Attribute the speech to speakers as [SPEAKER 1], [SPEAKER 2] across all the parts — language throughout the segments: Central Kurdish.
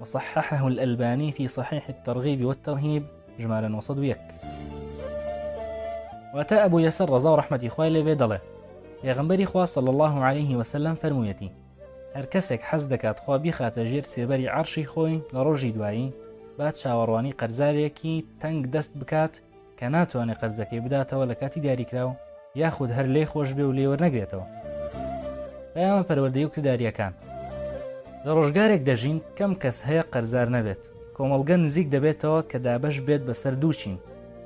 [SPEAKER 1] وصححه الالبانی فی صحیح الترغیب والترهیب ژمارە 901. واتە ئەبو یەسەر ڕەزا و ڕەحمەتی خوای لێ بێ دەڵێ پێغمبەری خوا صلی الله عليه وسلم فەرموویەتی هەر کەسێک حەز دەکات خوا بیخاتە ژێر سێبەری عەرشی خۆی لە ڕۆژی دوایی با چاوەڕوانی قەرزارێکی تەنگ دەست بکات کە ناتوانێت قەرزەکەی بداتەوە لە کاتی دیاریکراو یاخود هەر لێی خۆش بێ و لێی وەرنەگرێتەوە. پەیامە پەروەردەیی و کردارییەکان. لە ڕۆژگارێک دەژین کەم کەس هەیە قەرزار نەبێت، کۆمەڵگە نزیک دەبێتەوە کە دابەش بێت بەسەر دوو چین،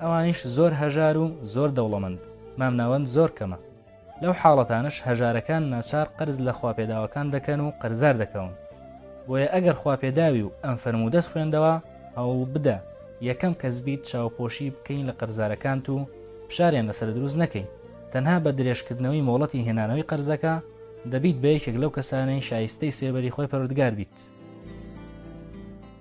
[SPEAKER 1] ئەوانیش زۆر هەژار و زۆر دەوڵەمەند، مامناوەند زۆر کەمە. لەو حاڵەتانەش هەژارەکان ناچار قەرز لە خواپێداوەکان دەکەن و قەرزار دەکەون، بۆیە ئەگەر خواپێداوی و ئەم فەرموودەت خوێندەوە، هەوڵبدە یەکەم کەس بیت چاوپۆشی بکەی لە قەرزارەکانت و فشاریان لەسەر دروست نەکەی، تەنها بە درێژکردنەوەی مۆڵەتی هێنانەوەی قەرزەکە، دەبیت بە یەکێک لەو کەسانەی شایستەی سێبەری خۆی پەروەردگار بیت.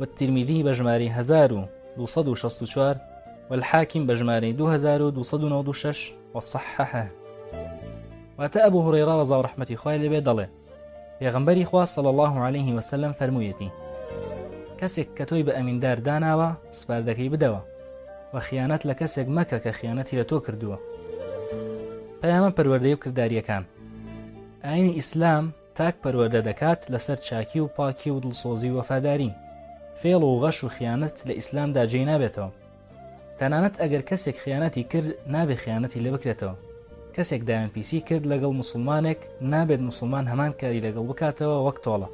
[SPEAKER 1] والترمذی بەژمارەی هەزار و دوو سەد و شەست و چوار والحاکم بەژمارەی دوو هەزار و دوو سەد و نەوەد و شەش وصححه واتە ئەبو هورەیرا ڕەزا و ڕەحمەتی خوای لێبێ دەڵێ پێغمبەری خوا صلی الله عليه وسلم فەرموویەتی کەسێک کە تۆی بە ئەمیندار داناوە سپاردەکەی بدەوە و خیانەت لە کەسێک مەکە کە خیانەتی لە تۆ کردووە پەیامە پەروەردەی و کردداریەکان ئاینی ئیسلام تاک پەروەردە دەکات لەسەر چاکی و پاکی و دڵسۆزی و وەفاداری، فێڵ و غەش و خیانەت لە ئیسلامدا جێی نابێتەوە، تەنانەت ئەگەر کەسێک خیانەتی کرد نابێت خیانەتی لێ بکرێتەوە، کەسێک دایان پیسی کرد لەگەڵ موسڵمانێک نابێت موسڵمان هەمان کاری لەگەڵ بکاتەوە وەک تۆڵە.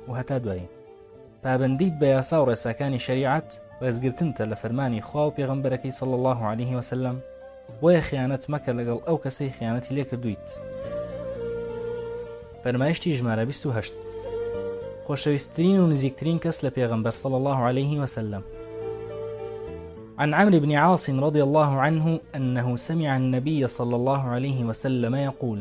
[SPEAKER 1] و هەتا دوایی. پابەندیت بە یاسا و ڕێساکانی شەریعەت ڕێزگرتنتە لە فەرمانی خوا و پێغەمبەرەکەی صلی اللە علیه وسلم، بۆیە خیانەت مەکە لەگەڵ ئەو کەسەی خیانەتی لێ کردوویت. فەرمایشتی ژمارە بیست و هەشت. خۆشەویستترین و نزیکترین کەس لە پێغەمبەر صلی اللە علیه وسلم. عن عمرو بن عاصم رضي الله عنه أنه سمع النبي صلى الله عليه وسلم يقول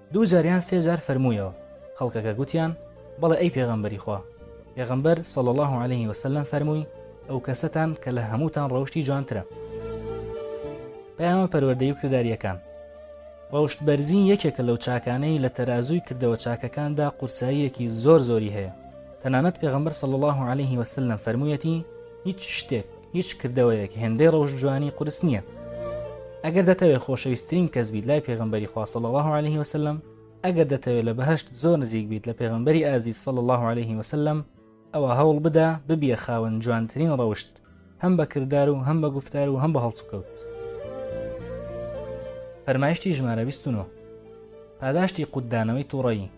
[SPEAKER 1] دوو جار یان سێ جار فەرموویەوە، خەڵکەکە گوتیان، بەڵێ ئەی پێغەمبەری خوا، پێغەمبەر، صلی اللە علیه وسلم، فەرمووی، ئەوکەسەتان کە لە هەمووتان ڕەوشتی جوانترە. پەیامە پەروەردەیی و کردارییەکان. ڕەوشت بەرزی یەکێکە لەو چاکانەی لە تەرازووی کردەوە چاکەکاندا قورساییەکی زۆر زۆری هەیە، تەنانەت پێغەمبەر، صلی اللە علیه وسلم، فەرموویەتی، هیچ شتێک، هیچ کردەوەیەک هێندەی ڕەوشت جوانی قورس نییە ئەگەر دەتەوێت خۆشەویستترین کەس بیت لای پێغمبەری خوا صلی الله عليه وسلم ئەگەر دەتەوێت لە بەهشت زۆر نزیک بیت لە پێغمبەری ئازیز صلی الله عليه وسلم ئەوە هەوڵ بدا ببیە خاوەن جوانترین ڕەوشت هەم بە کردار و هەم بە گفتار و هەم بە هەڵسوکەوت فەرمایشتی ژمارە 29 پاداشتی قوددانەوەی تووڕەیی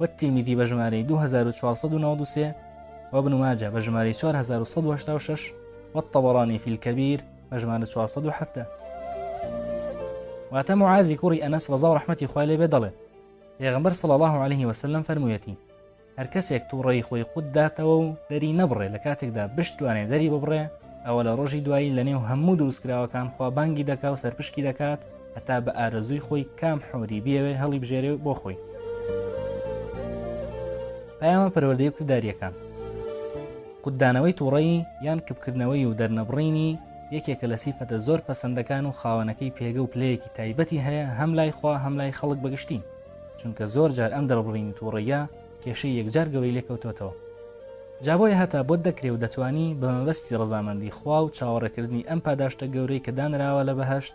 [SPEAKER 1] والترمذی بە ژمارەی دوو هەزار و چوار سەد و نەوەد و سێ، وابن ماجە بە ژمارەی چوار هەزار و سەد و هەشتا و شەش، والطبرانی فی الکبیر بە ژمارە چوار سەد و حەڤدە. واتە معازی کوڕی ئەنەس ڕەزا و ڕەحمەتی خوای لێ بێ دەڵێ پێغەمبەر صلی الله علیه وسلم فەرموویەتی هەر کەسێک تووڕەی خۆی قوت داتەوە و دەری نەبڕێ لە کاتێکدا بشتوانێ دەری ببڕێ ئەوە لە ڕۆژی دوایی لەنێو هەموو دروستکراوەکان خوا بانگی دەکا و سەرپشکی دەکات هەتا بە ئارەزووی خۆی کام حۆری بیەوێ هەڵیبژێرێ و بۆ خۆی پەیامە پەروەردەی کردداریەکان قوددانەوەی تووڕەیی یان کپکردنەوەی و دەرنەبڕینی یەکێکە لە سیفەتە زۆر پەسەندەکان و خاوەنەکەی پێگە و پلەیەکی تایبەتی هەیە هەم لای خوا هەم لای خەڵک بەگشتی چونکە زۆر جار ئەم دەربڕینی تووڕەیە کێشەی یەکجار گەورەی لێکەوتۆتەوە جابۆی هەتا بۆت دەکرێ و دەتانی بە مەبەستی ڕزامەندی خوا و چاوەڕێکردنی ئەم پاداشتە گەورەی کە دانراوە لە بەهشت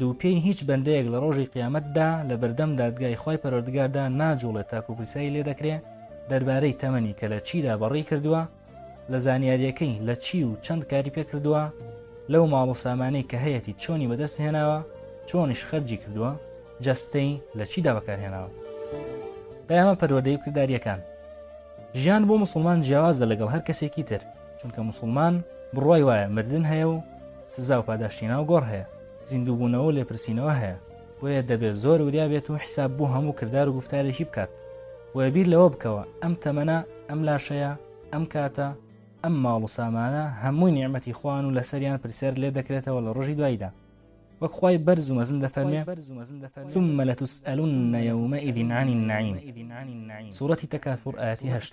[SPEAKER 1] دووپێی هیچ بەندەیەک لە ڕۆژی قیامەتدا لە بەردەم دادگای خوای پەروەردگاردا ناجوڵێت تاکو پرسیاری لێ دەکرێ دەربارەی تەمەنی کە لە چیدا بەڕی کردووە لە زانیاریەکەی لە چی و چەند کاری پێ کردووە لەو ماڵ و سامانەی کە هەیەتی چۆنی بەدەست هێناوە چۆنیش خەرجی کردووە جەستەی لە چیدا بەکارهێناوە پەیامە پەروەدەی و کردداریەکان ژیان بۆ مسلمان جیاوازە لەگەڵ هەر کەسێکی تر چونکە مسلمان بڕوای وایە مردن هەیە و سزا و پاداشتی ناو گۆڕ هەیە، زیندووبوونەوە و لێپرسینەوە هەیە، بۆیە دەبێت زۆر وریا بێت و حیساب بۆ هەموو کردار و گوفتارێکی بکات، بۆیە بیر لەوە بکەوە ئەم تەمەنە، ئەم لاشەیە، ئەم کاتە، ئەم ماڵ و سامانە هەمووی نیعمەتی خوان و لەسەریان پرسیار لێت دەکرێتەوە لە ڕۆژی دواییدا، وەک خوای بەرز و مەزن دەفەرمێ، ثم لتسئلن یومئذ عن النعیم، سورەتی تکاثور، ئایەتی هەشت.